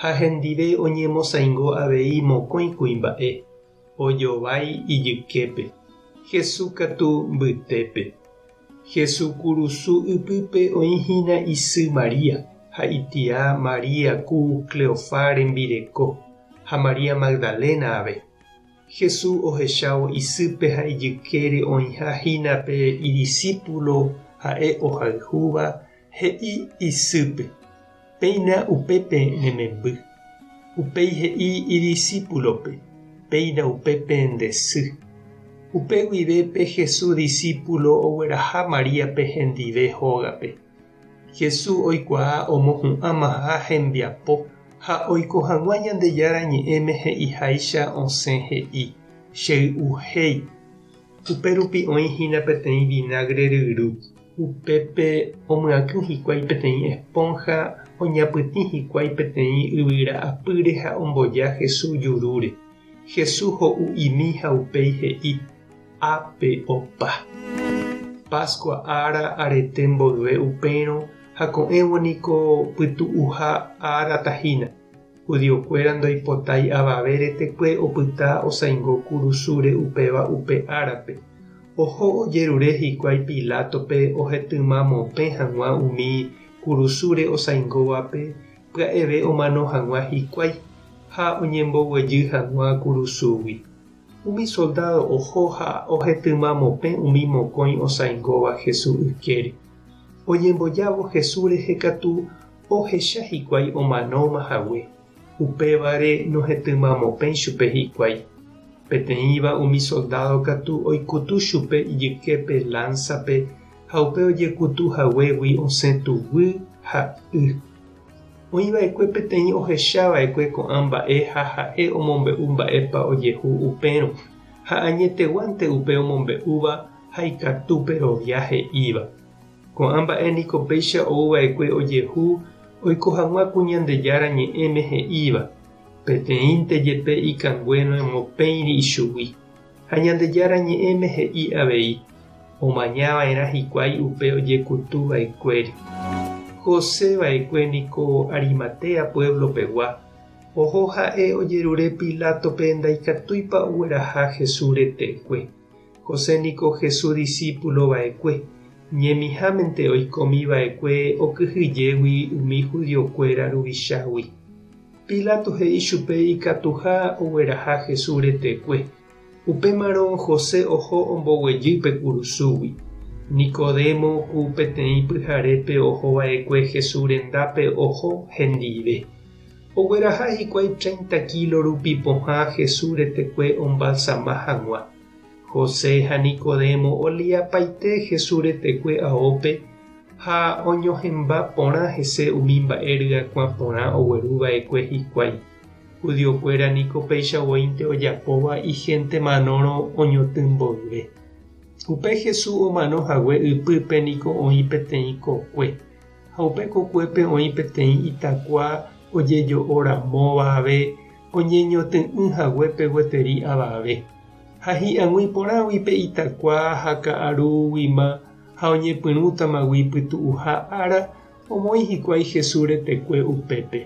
ha hendive oñemosaingo avei mokõi kuimba'e, ojovái ijyképe, Jesús katu mbytépe. Jesús kurusu ypýpe oĩ hína isy María ha itia María ku Cleofá rembireko, ha María Magdalena ave. Jesús ohechávo isýpe ha ijykére oĩha hína pe idisípulo ha'e ohayhúva, he'i isýpe. Péina upépe ne memby. Upéi he'i idisípulope, Péina upépe nde sy. Upe guive pe Jesús disípulo ogueraha Maríape hendive hógape. Jesús oikuaa omohu'ãmaha hembiapo ha oiko hag̃ua Ñandejára Ñe'ẽme he'iháicha osẽ he'i, Chey'uhéi. Upérupi oĩ hína peteĩ vinagre ryru. Upépe omyakỹ hikuái peteĩ espónha oñapytĩ hikuái peteĩ yvyra apýre ha omboja Jesús jurúre. Jesús ho'u imi ha upéi he'i, Ápe opa. Pascua ára arete mboyve upérõ ha ko'ẽvo niko pytu'uha ára tahína, Judiokuéra ndoipotái avave retekue opyta osãingo kurusúre upéva upe árape. Oho ojerure hikuái Pilátope ohetymamopẽ hag̃ua umi kurusúre osãingóvape pya'eve omano hag̃ua hikuái, ha oñemboguejy hag̃ua kurusúgui. Umi soldádo oho ha ohetymamopẽ umi mokõi osãingóva Jesús ykére. Oñembojávo Jesús rehe katu, ohecha hikuái omanóma hague, upévare nohetỹmamopẽi chupe hikuái. Peteĩva umi soldádo katu oikutu chupe ijyképe lánsape ha upe ojekutu haguégui osẽ tuguy ha y. Oĩ va'ekue peteĩ ohecha va'ekue ko'ã mba'e ha ha'e omombe'u mba'épa ojehu upérõ, ha añeteguánte upe omombe'úva ha ikatu perovia he'íva. Ko'ã mba'e niko péicha ou va'ekue ojehu oiko hag̃ua ku Ñandejára Ñe'ẽme he'íva, Peteĩnte jepe ikangue noemopéiri ichugui. Ha Ñandejára Ñe'ẽme he'i avei, Omaña va'erã hikuái upe ojekutu va'ekuére. José va'ekue niko Arimatea puévlo pegua, oho ha'e ojerure Pilátope ndaikatúipa ogueraha Jesús retekue. José niko Jesús disípulo va'ekue, ñemihámente oikomi va'ekue okyhyjégui umi judiokuéra ruvichágui. Pilato he'i chupe ikatuha ogueraha Jesús retekue. Upémarõ José oho omboguejy pe kurusúgui. Nicodemo ku peteĩ pyharépe oho va'ekue Jesús rendápe oho hendive. Ogueraha hikuái treinta kílo rupi pohã Jesús retekue ombalsama hag̃ua. José ha Nicodemo oliapaite Jesús retekue aópe ha oñohẽmba porã hese umi mba'e ryakuã porã ogueru va'ekue hikuái. Judiokuéra niko péicha voínte ojapóva ihénte manórõ oñotỹ mboyve. Upe Jesús omano hague ypýpe niko oĩ peteĩ kokue. Ha upe kokuépe oĩ peteĩ itakua ojejo'o ramóva ave oñeñotỹ'ỹ haguépe gueteri avave. Ha hi'ag̃ui porãgui pe itakua ha ka'arúguima ha oñepyrũtamagui pytu'uha ára, omoĩ hikuái Jesús retekue upépe.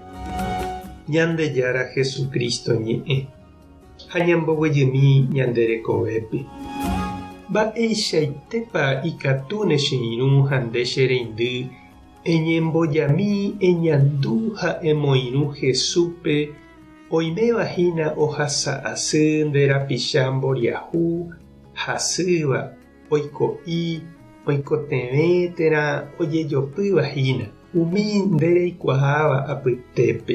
Ñandejára Jesucristo ñe'ẽ. ha ñamboguejymi ñande rekovépe. Mba'eichaitépa ikatu ne che irũ ha nde che reindy eñembojami eñandu ha emoirũ Jesúspe oiméva hína ohasa asy nde rapicha mboriahu hasýva oiko'i oikotevẽ térã ojejopýva hína umi nde reikuaáva apytépe.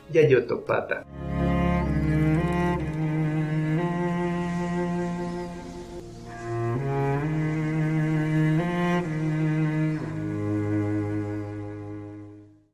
jajotopáta.